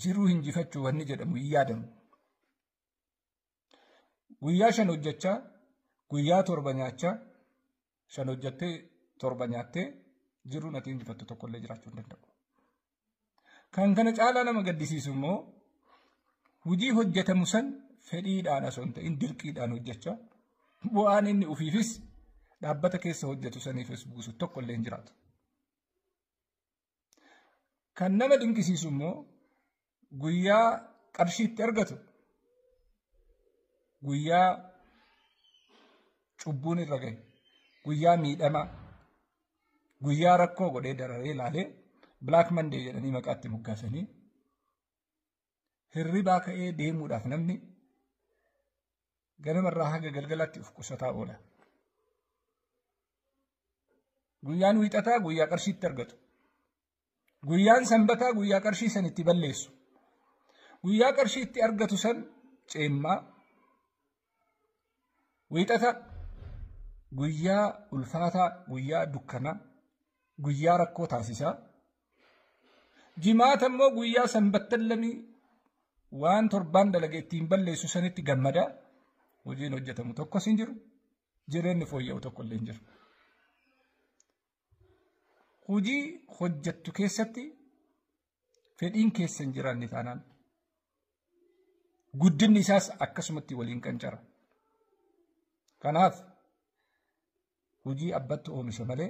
jiruu hinjifachuu wanni jedhamu hin yaadamu. Guyyaa shan hojjechaa guyyaa torba nyaachaa shan hojjettee torba nyaattee jiruun ati injifattu tokkollee jiraachuu hin danda'u. Kan kana caalaa nama gaddisiisu immoo hojii hojjetamu san fedhiidhaan osoo hin ta'in dirqiidhaan hojjechaa bu'aan inni ofiifis dhaabbata keessa hojjetu saniifis buusu tokkollee hin jiraatu. Kan nama dinqisiisu immoo guyyaa qarshii itti argatu guyyaa cubbuun irra gahe guyyaa miidhamaa guyyaa rakkoo godhee dararee ilaalee black monday jedhanii maqaatti moggaasanii hirribaa ka'ee deemuudhaaf namni ganamarraa haga galgalaatti of qusataa oola. Guyyaan wiixataa guyyaa qarshiitti argatu. Guyyaan sanbataa guyyaa qarshii san itti balleessu. Guyyaa qarshii itti argatu san ceemmaa Wiixata guyyaa ulfaataa, guyyaa dukkanaa, guyyaa rakkoo taasisaa. Jimaata immoo guyyaa sanbattan lamii waan torbaan dalage ittiin balleessu sanitti gammadaa. Hojiin hojjetamu tokkos hin jiru. Jireenyi fooyya'u tokko illee hin jiru. Hojii hojjettu keessatti fedhiin keessa hin jiraanne taanaan guddinni isaas akkasumatti waliin qancara. Kanaaf hojii abbatti oomisha malee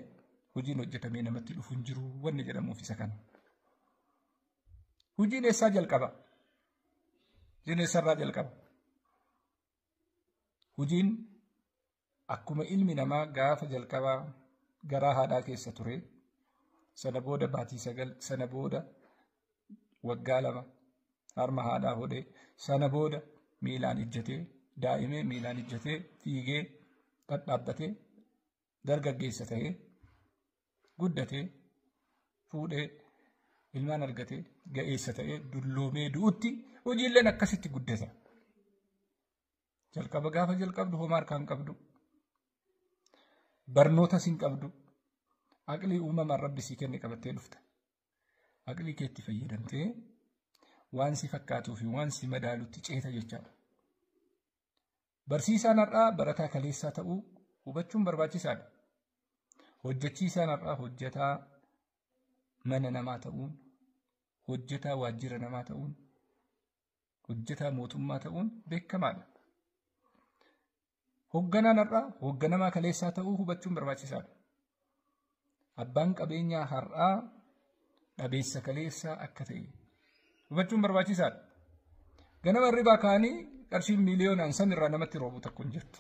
hojiin hojjetamee namatti dhufu hin jiru wanni jedhamuuf isa kana. Hojiin eessaa jalqaba? Hojiin eessarraa jalqaba? Hojiin Akkuma ilmi namaa gaafa jalqabaa garaa haadhaa keessa ture, sana booda baatii sagal, sana booda waggaa lama harma haadhaa hodhee, sana booda miilaan ijjatee, daa'imee miilaan ijjatee, fiigee, dhadhaabbatee, dargaggeessa ta'ee, guddatee, fuudhee, ilmaan argatee, ga'eessa ta'ee, dulloomee du'utti hojiilleen akkasitti guddata. Jalqaba gaafa jalqabdu homaa harkaan qabdu. Barnoota sin qabdu. Aqlii uumamaan rabbi sii kenne qabattee dhufta. Aqlii keetti fayyadamtee waan si fakkaatuu fi waan si madaalutti ceeta jechaadha. Barsiisaan har'aa barataa kaleessaa ta'uu hubachuun barbaachisaadha. Hojjechiisaan har'aa hojjetaa mana namaa ta'uun, hojjetaa waajjira namaa ta'uun, hojjetaa mootummaa ta'uun beekamaadha. Hogganaan har'aa hogganamaa kaleessaa ta'uu hubachuun barbaachisaadha. Abbaan qabeenyaa har'aa dhabeessa kaleessaa akka ta'e hubachuun barbaachisaadha. Ganama hirribaa ka'anii qarshiin miiliyoonaan san irraa namatti roobu tokko hin jirtu.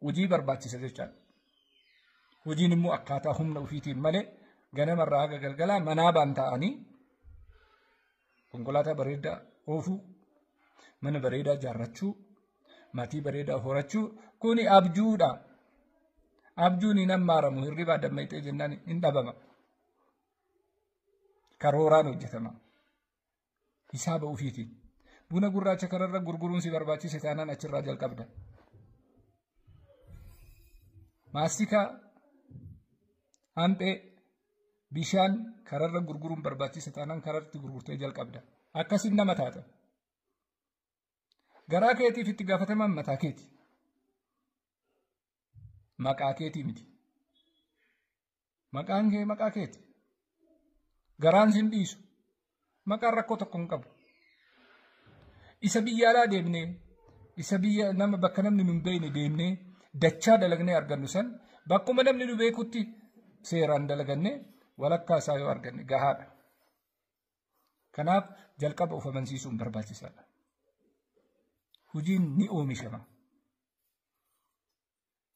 hojii barbaachisa jechaadha. Hojiin immoo akkaataa humna ofiitiin malee ganamarraa haga galgalaa manaa baan ta'anii konkolaataa bareedaa oofuu, mana bareedaa ijaarrachuu, maatii bareedaa horachuu kuni abjuudha. Abjuun hin hammaaramu hirribaa dammaqxee jennaan hin dhabama. Karooraan hojjetama. Hisaaba ofiitiin. Buna gurraacha kanarra gurguruun si barbaachise taanaan achirraa jalqabda. Maastikaa, hanphee, bishaan kararra gurguruun barbaachise taanaan kararratti gurgurtee jalqabda. Akkasiin nama taata. Garaa keetiif itti gaafatamaan mataa keeti. Maqaa keetii miti. Maqaan kee maqaa keeti. Garaan sin dhiisu. Maqaan rakkoo tokko hin qabu. Isa biyya alaa deemnee isa biyya nama bakka namni nu hin beekne deemnee dachaa dalagnee argannu san bakkuma namni nu beekutti seeraan dalagannee walakkaa isaa yoo arganne gahaadha. Kanaaf jalqaba of amansiisuun barbaachisaadha. Hojiin ni oomishama.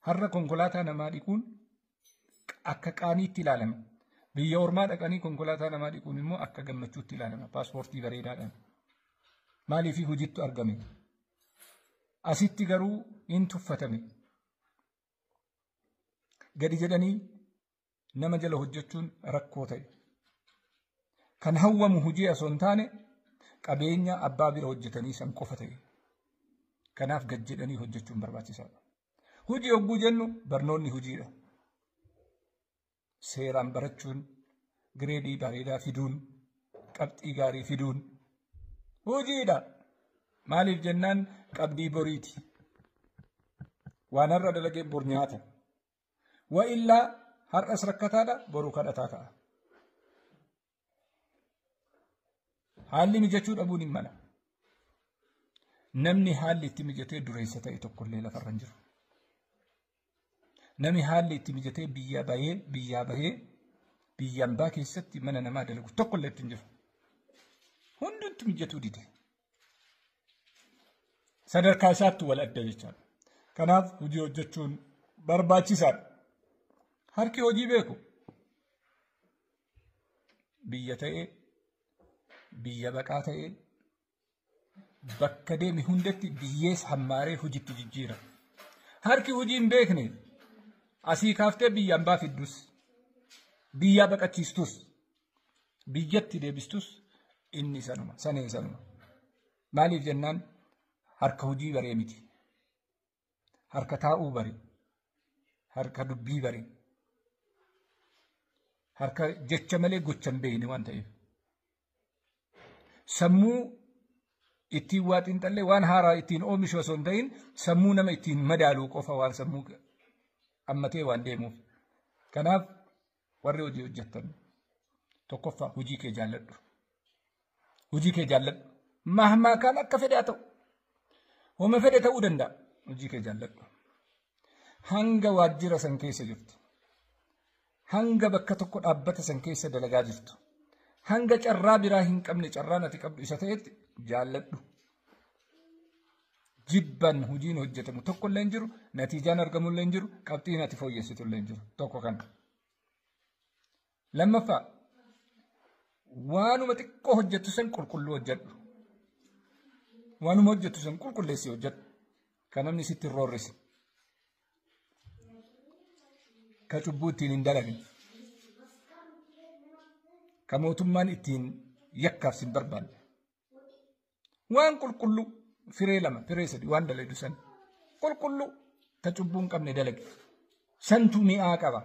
Har'a konkolaataa namaa dhiquun akka qaaniitti ilaalama. Biyya ormaa dhaqanii konkolaataa namaa dhiquun immoo akka gammachuutti ilaalama. Paaspoortii bareedaadhaan. Maaliif hojiitti argame? Asitti garuu hin tuffatame. Gadi jedhanii nama jala hojjechuun rakkoo ta'e. Kan hawwamu hojii osoo hin taane qabeenya abbaa bira hojjetanii san qofa ta'e. Kanaaf gad jedhanii hojjechuun barbaachisaadha. Hojii hogguu jennu barnoonni hojiidha. Seeraan barachuun gireedii bareedaa fiduun qabxii gaarii fiduun hojiidha. Maaliif jennaan qabdii boriiti. Waan har'a dalagee bor nyaata. Wa illaa har'as rakkataadha boruu kadhataa ta'a. Haalli mijachuu dhabuun hin mala. Namni haalli itti mijatee dureessa ta'e tokkollee lafarra hin jiru. Namni haalli itti mijatee biyyaa bahee biyyaa bahee biyyaan baa keessatti mana namaa dalagu tokkollee itti hin jiru. Hundumtu mijatuu dide. sadarkaa isaatti wal adda jechaadha. Kanaaf hojii hojjechuun barbaachisaadha. Harki hojii beeku biyya ta'ee biyya baqaa ta'ee bakka deeme hundatti biyyees hammaaree hojiitti jijjiira. Harki hojii hin beekne asii kaaftee biyya ambaa fiddus biyyaa baqachiistus Biyyatti deebistus inni sanuma sanee sanuma. Maaliif jennaan harka hojii baree miti. Harka taa'uu bare. Harka dubbii bare. Harka jecha malee gocha hin beekne waan ta'eef. Sammuu ittiin waa xiinxallee waan haaraa ittiin oomishu osoo hin ta'in sammuu nama ittiin madaaluu qofa waan sammuu ammatee waan deemuuf. Kanaaf Warri hojii hojjettan tokkoffaa hojii kee jaalladhu. Hojii kee jaalladhu. Mahmaa kaan akka fedhe haa ta'u. Homa fedhe ta'uu danda'a. Hojii kee jaalladhu. Hanga waajjira san keessa jirtu. Hanga bakka tokko dhaabbata san keessa dalagaa jirtu. Hanga carraa biraa hin qabne carraan ati qabdu isa ta'etti jaalladhu. jibban hojiin hojjetamu tokko illee hin jiru natiijaan argamu illee hin jiru qabxiin ati fooyyessitu illee hin jiru tokko kana. Lammaffaa waanuma xiqqoo hojjettu san qulqulluu hojjedhu. Waanuma hojjettu san qulqulleessi hojjedhu. Kan namni sitti hin roorrisi. Ka cubbuu ittiin hin dalagin. Ka mootummaan ittiin yakkaaf sin barbaanne. Waan qulqulluu firee lama firee sadii waan dalagdu san qulqulluu ta cubbuu hin qabne dalage santu mi'aa qaba.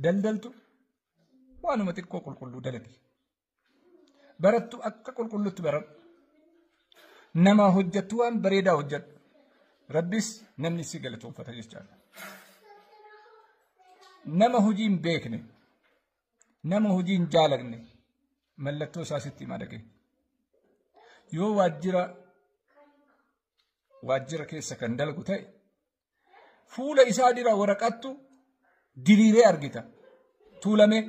Daldaltu waanuma xiqqoo qulqulluu dalage. Barattu akka qulqulluutti baradhu. Nama hojjettu waan bareedaa hojjedhu. Rabbis namni si galatoomfata jechaadha. Nama hojii hin beekne Nama hojii hin jaalanne mallattoo isaa sitti hima dhagee. Yoo waajjira waajjira keessa kan dalgu ta'e fuula isaa dura waraqattu diriiree argita. Tuulamee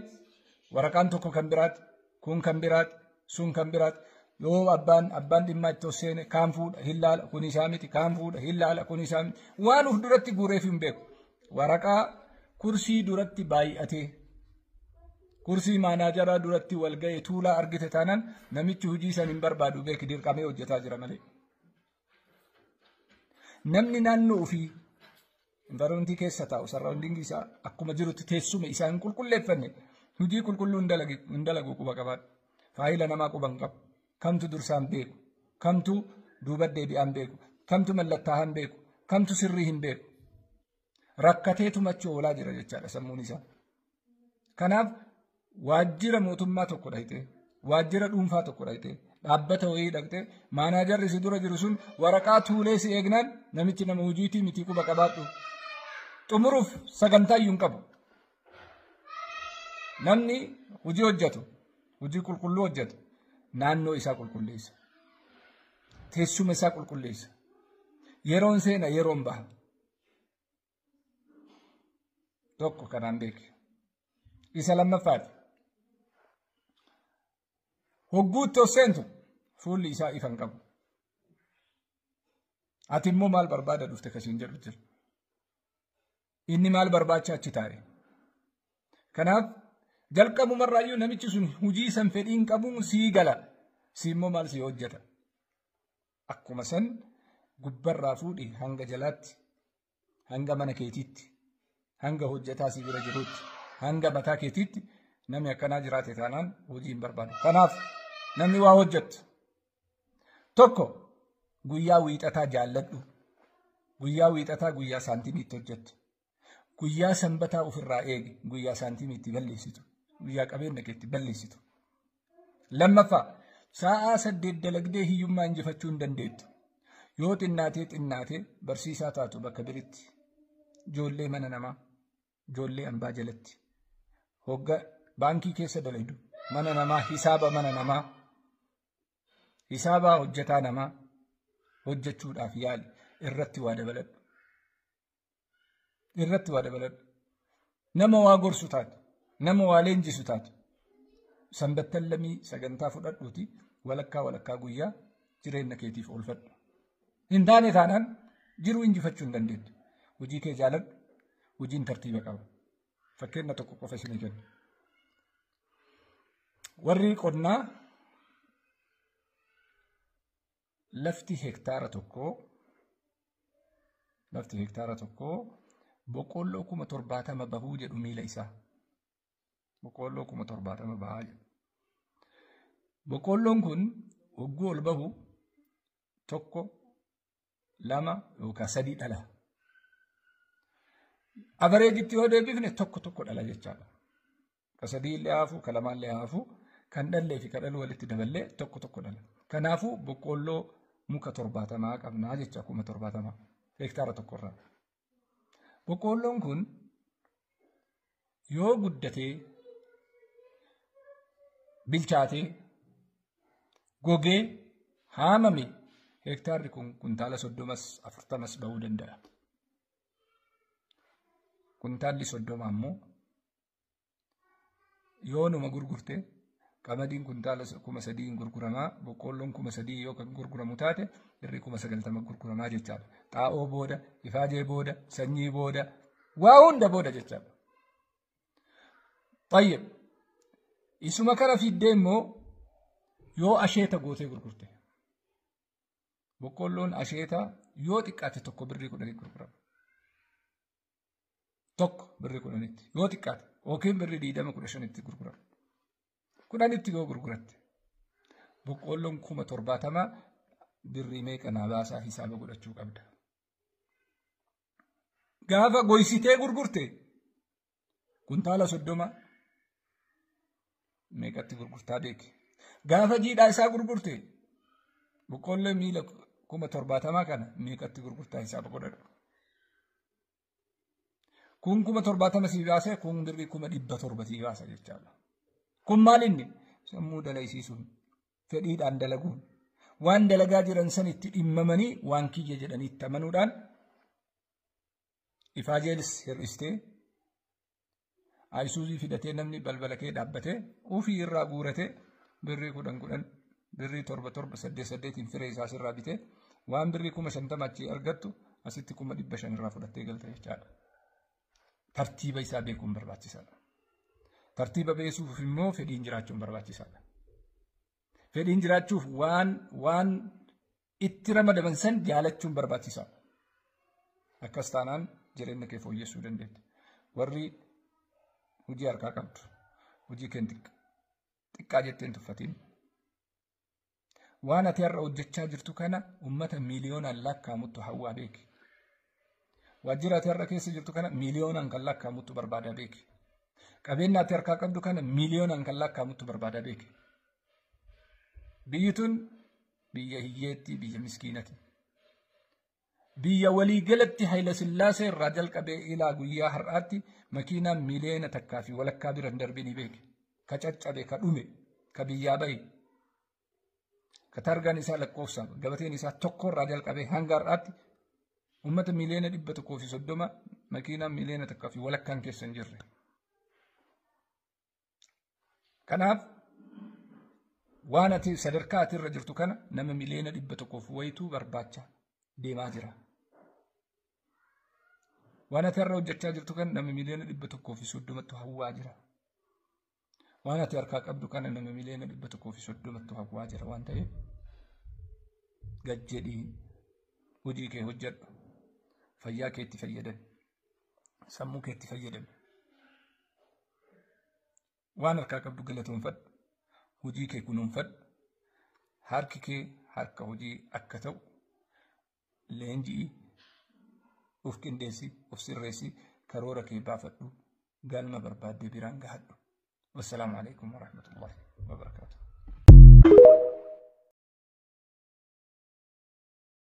waraqaan tokko kan biraati kun kan biraati sun kan biraati yoo abbaan abbaan dhimmaa itti seene kaan fuudha hin laala kun isaa miti kaan fuudha hin laala kun isaa miti waan uf duratti guureef hin beeku waraqaa kursii duratti baay'atee kursii maanaajaraa duratti wal ga'e tuulaa argite taanaan namichi hojii san hin barbaadu beeki dirqamee hojjetaa jira malee. Namni naannoo ofii environmentii keessa taa'u sarraawundiingii isaa akkuma jirutti teessuma isaa hin qulqulleeffanne hojii qulqulluu hin dalagu quba qabaadha. Faayila namaa quba hin qabu. Kamtu dursaan beeku. Kamtu duuba deebi'aan beeku. Kamtu mallattaa'aan beeku. Kamtu sirrii hin beeku. rakkatee tumachuu oolaa jira jechaadha sammuun isaa. Kanaaf waajjira mootummaa tokko dhaqxee waajjira dhuunfaa tokko dhaqxee dhaabbata wayii dhaqxee maanaajarri si dura jiru sun waraqaa tuulee si eegnaan namichi nama hojiitii mitii quba qabaadhu. Xumuruuf sagantaa iyyuu hin qabu. Namni hojii hojjetu hojii qulqulluu hojjetu naannoo isaa qulqulleessa. Teessuma isaa qulqulleessa. Yeroon seena yeroon baha. tokko kanaan beeki isa lammaffaati hogguutti of seentu fuulli isaa ifa hin qabu ati immoo maal barbaada dhufte kasiin jedhu jira inni maal barbaacha achi taa'e kanaaf jalqabumarraayyuu namichi sun hujii san fedhiin qabuun sii gala sii immoo maal sii hojjeta Akkuma san gubbarraa fuudhi hanga jalaatti, hanga mana keetiitti, hanga hojjetaa si bira jirutti, hanga mataa keetiitti namni akkanaa jiraate taanaan hojii hin barbaadu. Kanaaf namni waa hojjettu tokko guyyaa wiixataa jaalladhu. Guyyaa wiixataa guyyaa saantimiitti hojjettu. Guyyaa sanbataa ofirraa eegi. Guyyaa saantiimii itti balleessitu. Guyyaa qabeenya kee itti balleessitu. Lammaffaa sa'aa saddeet dalagdee hiyyummaa injifachuu hin dandeettu. Yoo xinnaatee xinnaatee barsiisaa taatu bakka biritti. Ijoollee mana namaa. Ijoollee ambaa jalatti. Hogga baankii keessa dalagdu. Mana namaa hisaaba mana namaa. Hisaabaa hojjetaa namaa hojjechuudhaaf yaali irratti waa dabaladhu. irratti waa dabaladhu nama waa gorsu taatu nama waa leenjisu taatu sanbattan lamii sagantaa fudhadhuuti walakkaa walakkaa guyyaa jireenya keetiif oolfadhu hin taane taanaan jiruu injifachuu hin dandeenye hojii kee jaaladhu hojiin tartiiba qaba fakkeenya tokko qofa isinii kenna warri qonnaa lafti hektaara tokkoo lafti hektaara tokkoo boqqoolloo kuma torbaatama bahuu jedhu miila isaa. Boqqoolloo kuma torbaatama bahaa jedhu. Boqqoolloon kun hogguu ol bahu tokko lama yookaan sadii dhala. Abareejitti yoo deebifne tokko tokko dhala jechaadha. Ka sadii illee haafuu, ka lamaa illee haafuu, kan dhallee fi ka dhaluu walitti daballee tokko tokko dhala. Kanaafuu boqqoolloo muka torbaatamaa qabnaa jecha kuma torbaatamaa hektaara tokkorraa. Boqqoolloon kun yoo guddatee bilchaatee gogee haamame hektaarri kun kuntaala soddomas afurtamas ba'uu danda'a. Kuntaalli soddoma ammoo yoo numa gurgurte qamadiin kuntaala kuma sadii hin gurguramaa boqqoolloon kuma sadii yoo kan gurguramu taate birrii kuma sagaltama gurguramaa jechaadha. Xaa'oo booda, ifaajee booda, sanyii booda, waa hunda booda jechaadha. Tayyib. Isuma kana fiddee immoo yoo asheeta gootee gurgurte. Boqqoolloon asheeta yoo xiqqaate tokko birrii kudhanii gurgurama. tokko birrii kudhanitti yoo xiqqaate yookiin birrii digdama kudha shanitti gurgurama. Kudhanitti yoo gurguratte boqqoolloon kuma torbaatamaa birrii meeqa naa baasaa hisaaba godhachuu qabda. Gaafa goysitee gurgurte kuntaala soddoma meeqatti gurgurtaa beeki. Gaafa jiidhaa isaa gurgurte boqqoollee miila kuma torbaatamaa kana meeqatti gurgurtaa hisaaba godhadhu. Kun kuma torbaatama sii baasee kun birrii kuma dhibba torba sii baasa jechaadha. Kun maal inni sammuu dalaysiisuun fedhiidhaan dalaguun waan dalagaa jiran san itti dhimmamanii waan kiyya jedhanii itti amanuudhaan ifaajeelis hir'istee Ayisuuzii fidatee namni balbala kee dhaabbatee ofii irraa guuratee birrii kudhan kudhan birrii torba torba saddeet saddeetiin firee isaas irraa bitee waan birrii kuma shantama achii argattu asitti kuma dhibba shan irraa fudhattee galte jechaadha. Tartiiba isaa beekuun barbaachisaadha. Tartiiba beekuuf immoo fedhiin jiraachuun barbaachisaadha. Fedhiin jiraachuuf waan waan itti ramadaman san jaalachuun barbaachisaadha. Akkas taanaan jireenya kee fooyyessuu dandeetta. Warri hojii harkaa qabdu hojii kee xiqqaa jettee hin tuffatiin. Waan ati har'a hojjechaa jirtu kana uummata miiliyoonaan lakkaa'amuttu hawwaa beeki. Waajjira ati har'a keessa jirtu kana miiliyoonaan kan lakkaa'amuttu barbaadaa beeki. Qabeenya ati harkaa qabdu kana miiliyoonaan kan lakkaa'amuttu barbaadaa beeki. Biyyi tun Biyya hiyyeetti, biyya miskiinati. Biyya waliigalatti Hayila Sillaasee irraa jalqabee ilaa guyyaa har'aatti makiinaa miliyoona takkaa fi walakkaa bira hin darbin ni beeke. Ka caccabe, ka dhume, ka biyyaa bahe. Ka targaan isaa lakkoofsa gabateen isaa tokko irraa jalqabee hanga har'aatti uummata miliyoona dhibba tokkoo fi soddoma makiinaa miliyoona takkaa fi walakkaan keessa hin jirre. Kanaaf waan ati sadarkaa ati irra jirtu kana nama miliyoona dhibba tokkoof wayituu barbaacha deemaa jira. Waan ati har'a hojjechaa jirtu kana nama miliyoona dhibba tokkoo fi soddomattu hawwaa jira. Waan ati harkaa qabdu kana nama miliyoona dhibba tokkoo fi soddomattu hawwaa jira waan ta'eef gad jedhii hojii kee hojjedhu fayyaa keetti fayyadami. sammuu keetti fayyadami. Waan harkaa qabdu galatoonfadhu. Hojii kee kunuunfadhu. Harki kee harka hojii akka ta'u leenji'i. Of qindeessi, of sirreessi, karoora kee baafadhu. Galma barbaaddee biraan gahadhu. Wassalaamu alaikum warahmatullahi wabarakatuh.